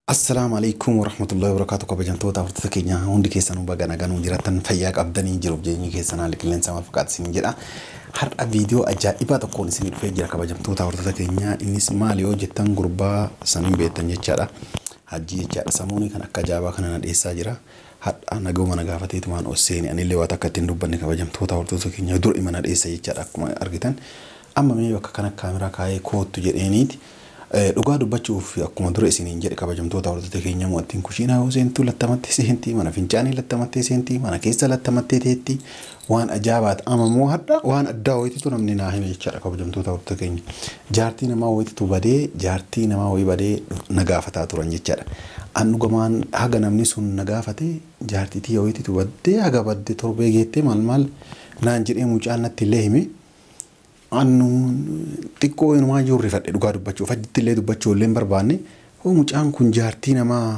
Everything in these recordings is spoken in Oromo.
Assalaamu Aleeykum Warahmatullaahi Wabarakaatuh Kabajamtoota hordoftoota keenya hundi keessanuu baga nagaan nuu jiraattan fayyaa qabdanii jiruuf jireenyi keessan haalli qilleensaa maal fakkaata isiniin jedha. Har'a viidiyoo ajaa'ibaa tokkoon isinii dhufee jira kabajamtoota hordoftoota keenya innis maal yoo jettan gurbaa saniin beektan jechaadha. Hajjii jechaadha samuunii kan akka ajaa'ibaa kana na dhiyeessaa jira. Har'a naguma na gaafateetumaan ol seeni anillee waa takka ittiin dubbanne kabajamtoota hordoftoota keenya dura ima na dhiyeessa jechaadha akkuma argitan. Amma mee bakka kana kaameraa kaayee koottu jedheeniiti. Dhugaa dubbachuuf akkuma dura isiniin jedhe kabajamtoota hordoftoota keenyaa mo'attiin kushiinaa yoo seentu lattamattee seentii mana fincaanii lattamattee seentii mana keessa lattamattee teetti waan ajaabaat ama moo hadha waan addaa wayititu namni naa hime jechaadha kabajamtoota hordoftoota keenya jaartii namaa wayititu badee jaartii namaa wayii badee na gaafataa turan jechaadha an dhugamaan haga namni sun na gaafate jaartii tiyya wayititu badde haga badde torbee geettee maal maal naan jedhee mucaan natti illee hime Annu xiqqoo inumaa iyyuu rifadhe dhugaa dubbachuuf achitti illee dubbachuu illee hin barbaanne hoo mucaan kun jaartii namaa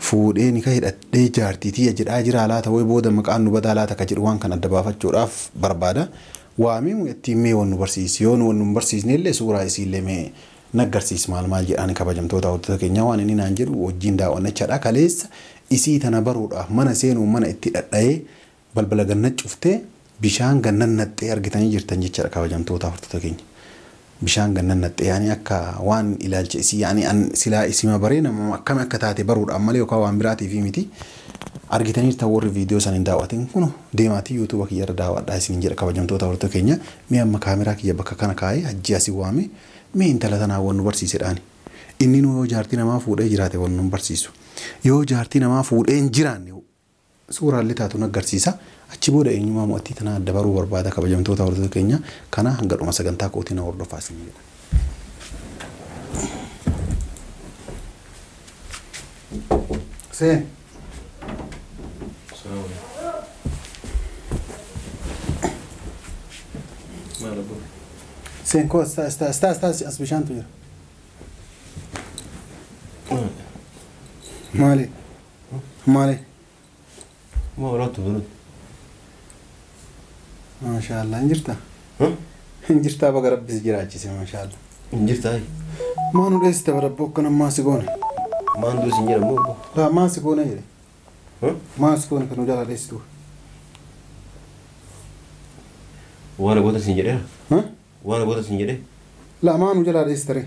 fuudhee nika hidhadhee jaartii tiyya jedhaa jiraa laata woy booda maqaan nu badaa laata ka jedhu waan kana adda baafachuudhaaf barbaada waamii mucattiin mee wal nu barsiisi yoo nu wal nun barsiisne illee suuraa isii illee mee naggarsiisi maal maal jedhaani kabajamtoota hordota keenyaa waan inni naan jedhu wajjiin daaw'annachadha kaleessa isii tana baruudhaaf mana seenuun mana itti dhadhayee Balbala gannat cuftee bishaan gannat naqxee argitanii jirtan jechadha kabajamtootaa hortota keenya bishaan gannat naqxee yaani akka waan ilaalcha isii yaani an silaa isima baree namama akkami akka taate baruudhaaf malee yokaa waan biraatiifii miti argitaniirtan warri viidiyoo san hin daawwatin kuno deemaatii yuutuuba kiyya irra daawwadhaa isinin jedha kabajamtootaa hortota keenya mee amma kaameraa kiyya bakka kana kaayee hajjii asi waame mee intala tanaa wan nu barsiisedhaani inninuu yoo jaartii namaa fuudhee jiraate wan nun barsiisu yoo jaartii namaa fuudhee hin jiraanne Suuraan litaa tun aggarsiisa. Achi booda eenyumaa mo'attii tanaa adda baruu barbaada kabajamtoota hordota keenyaa kanaa hanga dhuma sagantaa kootii na hordofaa isiniin jedha. Huseen. Huseen koo as taas taas taas taas as bishaantu jira. Maali? Maali? Moo rotu rotu. Maashaallah hin jirta? Hin jirtaa baga rabbi si jiraachise maashaallah. Hin jirtaa? Maa nu dheessita barabbo akkana maa si goone? Maan duus hin jedhamu obbo. Laa maa si goone jedhe? Maa si goone kan nu jalaa dheessitu? Waan abootas hin jedhee? Waan abootas hin jedhee? Laa maa nu jalaa dheessita ree?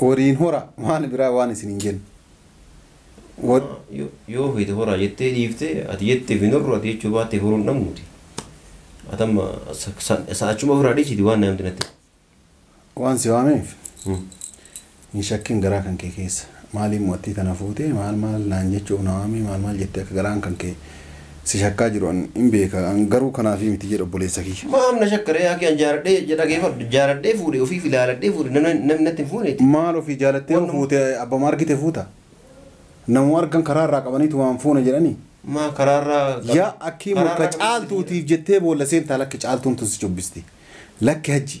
Horiin hora waan biraa waan isin hin jenne. Hor- Amma yo- yoo feete horaa jettee dhiifte ati jetteef hin horru ati jechuu baattee horuu hin dhabnuuti. Ati amma sa- sa- sa- achuma ofirraa dhiisiti waan namti natti. Waan si waameef Hmm. hin shakkin garaa kan kee keessa. Maaliin mo'attii tana fuutee maal maal naan jechuuf na waamee maal maal jettee akka garaan kan kee si shakkaa jiru an hin beeka an garuu kanaafii miti jedha obboleessa kiyya. Maaf na shakka ree akii an jaaladhee jedha geefadhu jaaladhee fuudhe ofiif ilaaladhee fuudhe namni namni natti hin fuuneeti Maal ofii jaalattee yoo Wannuma- fuute abbama argite fuuta? Namuma argan karaa irraa qabaniituma an fuuna jedhanii? maa karaarraa Yaa akkii murka caaltuutiif jettee boolla seentaa lakki caaltuun tun si cubbisti. Lakki hajji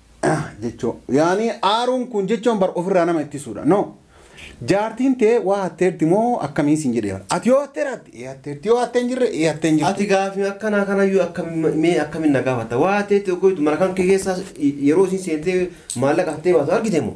jechoo yaani aaruun kun jechoon bar ofirraa nama ittisuudha no jaartiin tee waa hatteerti moo akkamii siin jedhee bar ati yoo hatteera atti ee hatteerti yoo hattee hin jirre ee hattee hin jirtu Ati gaafii akkanaa kanayyuu akkam- mee akkamiin na gaafata? Waa ta'etti oggoitu mana kan kee keessaa yeroo isin seentee maallaqa hattee baatu argite moo?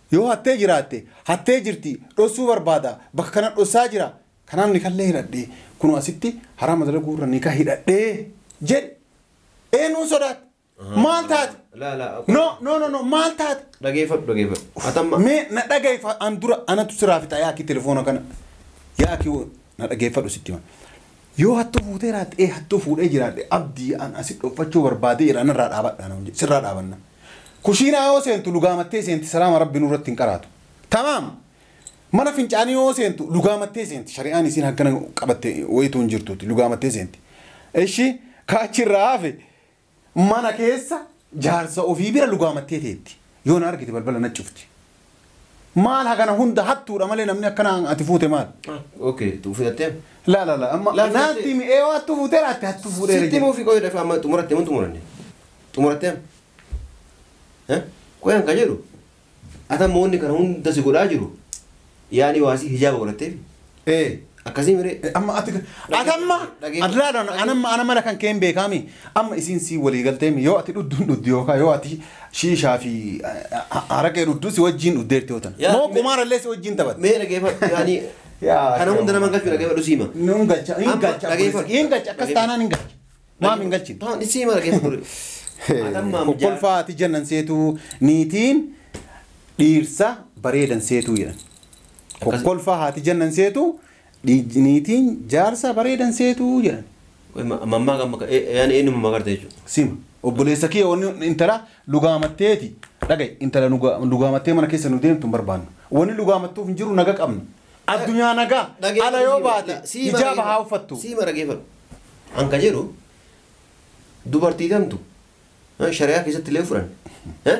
Yoo hattee jiraatte, hattee jirti, dhossuu barbaada, bakka kana dhossaa jira, kanaaf nikallee hidhadhe, kunoo asitti haraama dalaguu irra nika hidhadhe jedhi. Eenyuun sodaatte? Maal taate? Laa laa. No, no, no, no, maal taate? Dhageeffadhu dhageeffadhu. Atamma. Mee na dhagahi fa- an dura anatu siraa fixa yaa akki telefoona kana. Yaa akki wo- na dhageeffadhu sitti hima. Yoo hattuu fuutee raatte, ee hattuu fuudhee jiraadhe abdii an asi dhoffachuu barbaadee jira anarraa dhaabadhaa na hojje sirraa dhaabanna. Kushiinaa yoo seentu lugaamattee seenti salaama rabbi nurratti hin qaraatu. Tamaam! Mana fincaanii yoo seentu lugaamattee seenti shari'aan isiin haggana qabatte wayituu hin jirtuuti lugaamattee seenti. Ishi ka achirraa hafe mana keessa jaarsa ofii bira lugaamattee teetti. Yoo na argite balbala na cufti. Maal hagana hunda hattuudha malee namni akkana ati fuute maal? Okay, tu fudhattee? La la la amma Laal naatti fudhattee? mi ee hattuu fuutee laatti hattuu fuudhee Sitti himuu fi qoyidha fi amma xumurattee mun xumuranne. Xumurattee? Eh? Qoyan ka jedhu. Ata moonni kana hunda si godhaa jiru. Yaani waasi hijaaba godhatteef. Ee. Akkasii miree. Amma ati ati amma Dhagee- ati laala ana amma ana mala kan keen beekaami amma isiin sii walii galteemi yoo ati dhudduun dhuddu yookaan yoo ati shiishaa fi haraqee dhuddu si wajjiin dhuddeerti yoo tana Yaa- moo qumaarallee si wajjiin taphatte. Mee dhageeffadhu yaani Yaa- kana hunda nama galchu dhageeffadhu siima. Nuun galcha hin Amma galcha dhageeffadhu. hin galcha akkas taanaan hin galcha maam hin galchin. Taan siima dhageeffadhu. Atamma amjaa. Kolfaa ati jennan seetuu niitiin dhiirsa bareedan seetuu jedhan. Kokkolfaa haati jannan seetu dhiij- niitiin jaarsa bareedan seetu jedhan. Mammaa gamma ka yani eenyuma magarte jechuudha. Sima. Obboleessa kiyya wanni intala lugaamatteeti. Dhaga'i intala nuga- lugaamattee mana keessa nu deemtu hin barbaannu. Wanni lugaamattuuf hin jiru naga qabna. Addunyaa nagaa ala yoo baate hijaaba haa uffattu. Sii mara geefadhu. An ka jedhu dubartii tamtu eh, shari'aa keessatti illee fudhan. eh,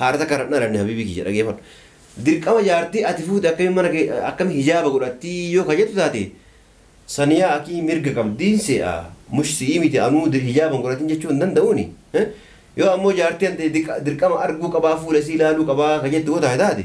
Haadha takka irraa hin dhalanne habiibii kiyya dhageefadhu. Dirqama jaartii ati fuute akkamiin mana kee akkami hijaaba godhattii yoo ka jettu taate Saniyaa akii mirga qabdiin see'a mush si'ii miti anuu dir hijaaba hin godhatin jechuu hin danda'uuni yoo ammoo jaartii tante diqa dirqama arguu qabaa fuula isii laaluu qabaa ka jettu yoo taate taate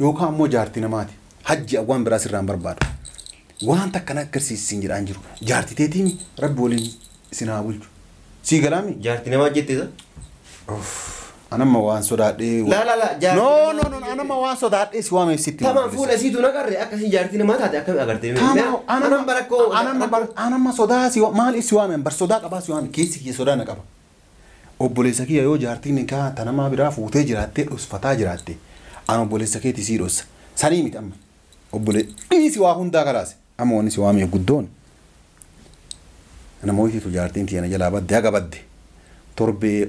Yookaan ammoo jaarti namaati. Hajji an waan biraa sirraa hin barbaadu. Waan takka na agarsiisi siin jedhaa hin jiru. Jaarti teetiimi rabbi waliin isin haa bulchu. Sii galaami? Jaarti namaa jette isa? Uff, an amma waan sodaadhee. Laa laa laa jaarti No namaa no no jette. an amma waan sodaadhee si waameef sitti. Tama hin fuula isiitu na qarre akka isin jaartii namaa taate akkami agarte. Taama Anan barakkoo. anamma bar anamma sodaa si wa- maaliif si waame bar sodaa qabaa si waame keessi kiyya sodaa na qaba. Obboleessa kiyya yoo jaartiin nikaaha ta namaa biraa fuutee jiraattee dhosfataa jiraatte an obboleessa keeti sii dhossa sanii miti amma obbole dhiisi waa hundaa kalaas amma wanni si waameef guddoon ana mooytitu jaartiin tiyya na jalaa badde haga badde torbee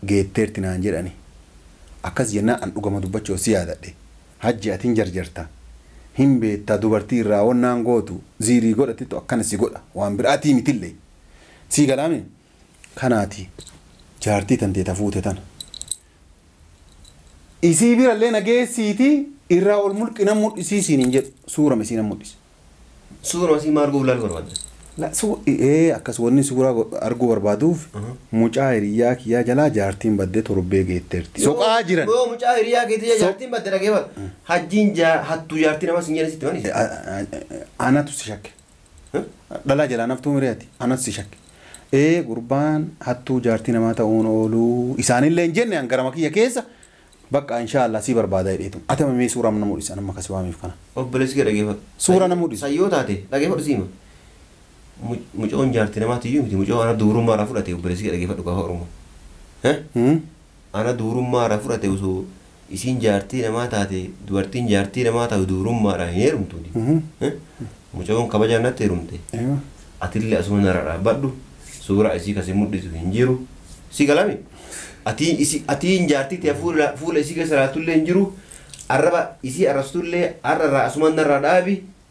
geetteerti naan jedhani akkas jennaan an dhugama dubbachuu ossi yaadadhe hajji ati hin jarjarta hin beetta dubartii irraa wannaan gootu ziirii godhattittu akkana si godha waan biraatii mitille sii galaami kanaati jaartii tantee ta fuute tana isii birallee na geessiitii irraa ol mulqi nan mudhisii siin hin jedhu suurama isii nan mudhise. Suurama isii maa arguuf laaluu barbaadda? La su ee akkas wanni suuraa go- arguu barbaaduuf Aha. mucaa hiriyyaa kiyyaa jalaa jaartiin baddee torbee geetteerti Yoo- soqaa jiran Yoo mucaa hiriyaa keetii So- jaartiin badde dhageefata. Hajjiin jaa- hattuu jaartii namaa siin jedhan sitti mani. A- a- a- anatu si shakke Dhalaa jalaan haftuu miree ati anas si shakke ee gurbaan hattuu jaartii namaa ta'uun ooluu isaanillee hin jenne an garama kiyya keessa bakka inshaa Allah sii barbaada jedheetu ati amma mee suuraa na mudhisa nama kasi waameef kana Obboleessi kee dhageeffadhu. Suura na mudhisi. San yoo taate dhageeffadhu siima. Mu- Mucoon jaarti namaati iyyuu miti mucoo ana dubrummaa irraa fudhate obboleessi kee dhageeffadhu gaafa Oromoo. Eh? Hmm? Ana dubrummaa irraa fudhate osoo isiin jaartii namaa taate dubartiin jaartii namaa taatu dubrummaadhaan hin heerumtu mucayoon kabajaan natti heerumte atillee asuma nara dhaabbadhu suuraa isii kasi mudhisu hin jiru si galami atii isi atiin jaartii tee fuula fuula isii keessa laaltullee hin jiru arraba isii arrabstullee har'a irraa asuma narraa dhaabi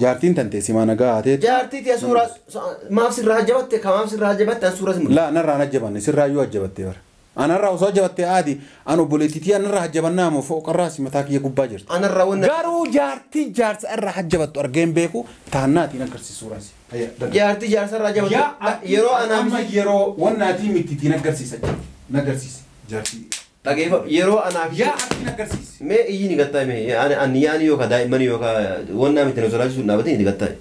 Jaartiin tantee simaa nagaa haa teetu. Jaartii tee suuraa maaf sirraa ajjabatte ka maaf sirraa ajjabatte an suuraa si mul'isa. Laa narraa hin ajjabanne sirraayyuu ajjabattee bara. Anarraa osoo ajjabattee aadi an obboleettii tiyya narraa ajjabannaa moo fooqarraa si mataa kiyya gubbaa jirti. Anarraa wanna. Garuu jaartii jaarsa irraa ajjabattu argee hin beeku taannaatii hin aggarsiis suuraa si. Hayya daga. Jaartii jaarsa irraa ajjabattu Yaa yeroo anaa amma yeroo wanna atii mitti tii naggarsiisa naggarsiisi jaartii. Dhageefadhu yeroo anaa fi Yaa abdii na garsiisi. Mee iyyini gattaay mee ani ani yaani yookaa daa'immani yookaa waan naam itti na sodaachisuun hin dhaabatin itti gattaay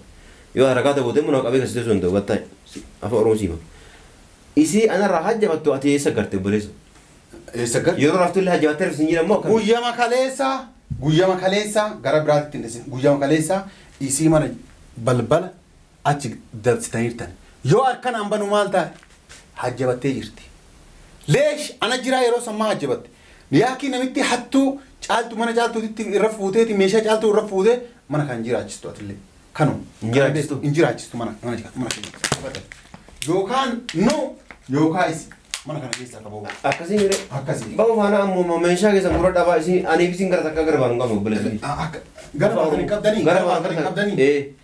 yoo harakaata goote immoo nama qabee gassiteessuu danda'u gattaay si afaan oromoo siima isii anarraa hajjafattu ati eessa garte obboleessa Eessa gar? yeroo raftu illee hajjafattee rafti sin jedhan moo akkami Guyyama kaleessaa guyyama kaleessaa gara biraatti hin dhisin guyyama kaleessaa isii mana balbala achi dabsitaniirtan yoo harkan an banu maal ta'a hajjabattee jirti leesh ana jiraa yeroo sammaa hajjabatte yaakii namitti hattuu caaltu mana caaltuutitti irra fuuteeti meeshaa caaltuu irra fuute mana kan jiraachistu atillee kanu Hin jiraachistu? hin jiraachistu mana mana jira- mana keenya. yookaan nu yookaan isi mana kana keessaa qaboo Akkasii mire. akkasii Bahu faana ammoo meeshaa keessan gurra dhabaa isin aniif isin gara takka gara baanu qabnu obboleessi. akka gara baatan hin qabdanii gara baatan hin qabdanii Ee.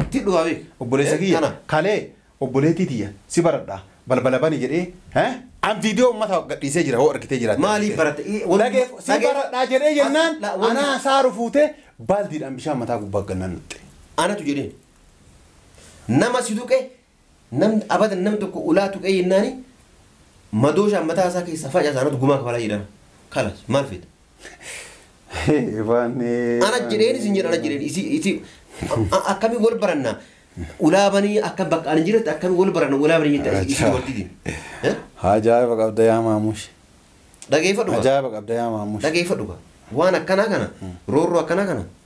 Itti dhufa beek obboleessa kiyya Tana. kalee obboleettii tiyya si baradha balbala bani jedhee he an viidiyoo ummata gadhiisee jira hoo argitee jiraatte Maaliif baratte? I- wal- Dhageef- si dhageef- baradhaa jedhee as- jennaan la- wal- anaa saaru fuutee baaldiidhaan bishaan mataa gubbaa gannaan naxxe Anatu jedheen. Nama si tuqe Nam abadan nam tokko ulaa tuqee jennaani madooshaan mataa isaa keessaa facasa anatu gumaa kafalaa jedhama. Kalas maal feeta? Ifaan Ana jedheen isin jedhan ana jedheen isi isi a- akkami wal baranna ulaa banii akka bakka ani jiretti akkami wal baranna ulaa banii jette isi Ajaa. dubartiitiin. Eh? Ajaa'iba qabda yaa maamush. Dhageeffadhu kaa. Ajaa'iba qabda yaa maamush. Dhageeffadhu kaa. Waan akkanaa kana roorroo akkanaa kana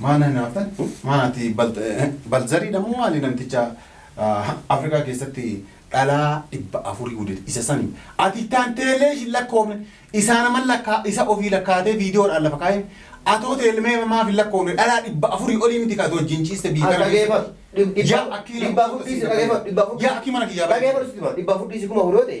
Maal hinaaftan? Maal ati balzariidha moo maali namticha Afrikaa keessatti dhalaa dhibba afurii guddate isa sani ati itti aanteellee isin lakkoofne isaa naman lakkaa isa ofii lakkaatee viidiyoodhaan lafa kaa'een atoo teelmee maaf hin lakkoofne dhalaa dhibba afurii olii miti kaatu wajjin ciiste biyya kana keessatti. Yaa akkii nama Dhibba afur dhiisi dhaggeeffadhu. Dhibba afur yaa akkii mana kiyyaa baay'ee. dhaggeeffadhu sitti hima. Dhibba afur dhiisi kuma afurii yoo ta'e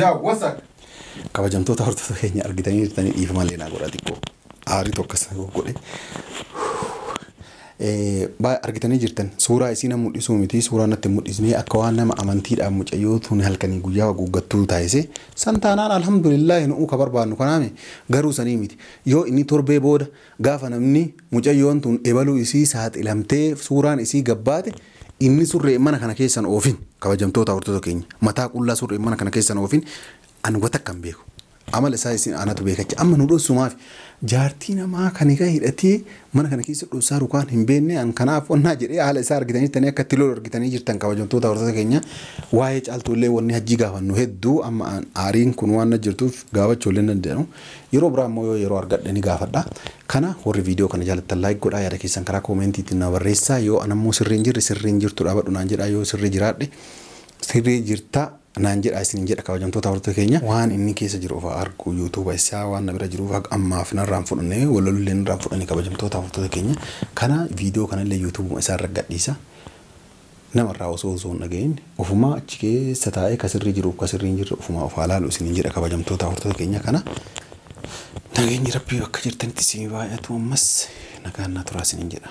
Yaa wasak. Kabajamtoota hordoota keenya argitanii jirtanii dhiifama illee naa godhaa xiqqoo aariitu akkas na goggodhe. Eh, Baay argitanii jirtan suuraa isii na mul'isuu miti suuraa natti hin mul'isne akka waan nama amantiidhaan mucayyoo tun halkanii guyyaa haguuggattuu taasise san taanaan alhamdulillah nu'uu ka barbaannu kanaame garuu sanii miti yoo inni torbee booda gaafa namni mucayyoon tun ebaluu isii saaxilamtee suuraan isii gabbaate Inni surree mana kana keessa hin oofin, kabajamtoota hordota keenya, mataa qullaa surree mana kana keessa hin oofin, ani wa takka hin beeku. Amala isaa isin anatu beeka jecha amma nu dhossu maafi? Jaartii namaa kan hikaa hidhatee mana kana keessa dhossaaru kaan hin beenne an kanaaf wannaa jedhee haala isaa argitanii jirtanii akka itti lolu argitanii jirtan kabajamtoota hordota keenya waa'ee caaltuu illee wanni hajjii gaafannu hedduu amma an aariin kun waan na jirtuuf gaafachuu illee hin danda'u. Yeroo biraa immoo yoo yeroo argadhe ni gaafadha. Kana warri viidiyoo kana jaalattan like godhaa yaada keessan karaa comment tiin na barreessaa yoo an ammoo sirrii hin jirre sirrii hin jirtu dhaabadhu naan jedhaa yoo sirrii jiraadhe sirrii jirta naan jedhaa isiniin jedha kabajamtoota hordoftoota keenya. Waan inni keessa jiru ofaa argu YouTube isaa waan na bira jiruuf haga ammaaf narraa hin fudhanne walaloo illee narraa hin fudhanne kabajamtoota hordoftoota keenya. Kana viidiyoo kana illee YouTube isaa irra gadhiisa. Namarraa osoo osoo hin dhagahin ofumaa achi keessa taa'ee ka sirrii jiruuf ka sirrii hin jirre ofumaa of haa laalu isiniin jedha kabajamtoota hordota keenya kana nageenyi rabbii bakka jirtanitti isinii baay'atu ammas nagaan naa turaa isiniin jedha.